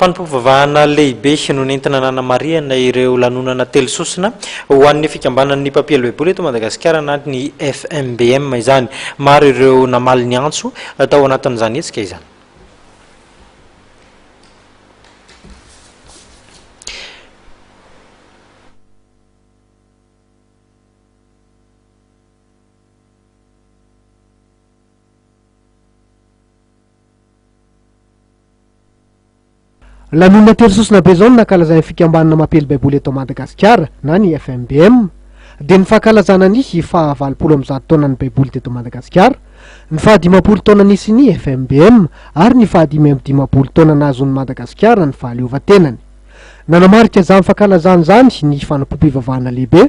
Fanompoam-pivavahana lehibe no nentina nanamarihana ireo lanonana telo sosona ho an'ny fikambanan'ny mpampiely Baiboly eto Madagasikara na ny FMBM izany. Maro ireo namaly ny antso tao anatin'izany hetsika izany. Lanonana telo sosona be izao no nankalazain'ny fikambanana mampiely Baiboly eto Madagasikara na ny FMBM. Dia ny fankalazana ny faha valopolo amby zato taonan'ny Baiboly teto Madagasikara, ny faha dimampolo taona nisian'ny FMBM ary ny faha dimy amby dimampolo taona nahazoan'i Madagasikara ny fahaleovantenany. Nanamarika izany fankalazana izany ny fanompoam-pivavahana lehibe,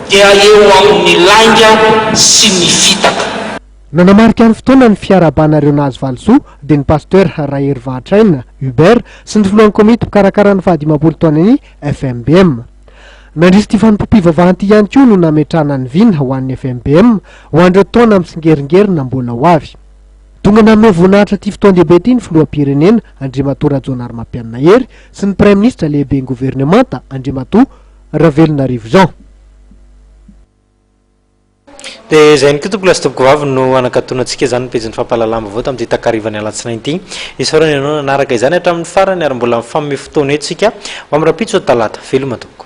Dia eo amin'ny lainga sy ny fitaka. Nanamarika ny fotoana ny fiarahabana ireo nahazo valisoa dia ny Pasteur Raherivahatraina Hubert sy ny filohan'ny komity mpikarakara ny fahadimampolo taonan'ny FMBM. Nandritra ity fanompoam-pivavahana ity ihany koa no nametrahana ny vina ho an'ny FMBM ho an'ireo taona mitsingeringerina mbola ho avy. Tonga nanome voninahitra ity fotoan-dehibe ity ny filoham-pirenena Andriamatoa Rajaonarimampianina Hery sy ny Praiminisitra lehiben'ny governemanta Andriamatoa Ravelonarivo izao. Dia izay ihany koa tompoko lahy sy tompoko vavy no hanakatona antsika izany ny pejin'ny fampahalalam-baovao tamin'ity takarivan'ny alatsinainy ity. Isaorana ianao nanaraka izany hatramin'ny farany ary mbola mifanome fotoana eo isika ho amin'ny rahampitso talata. Veloma tompoko.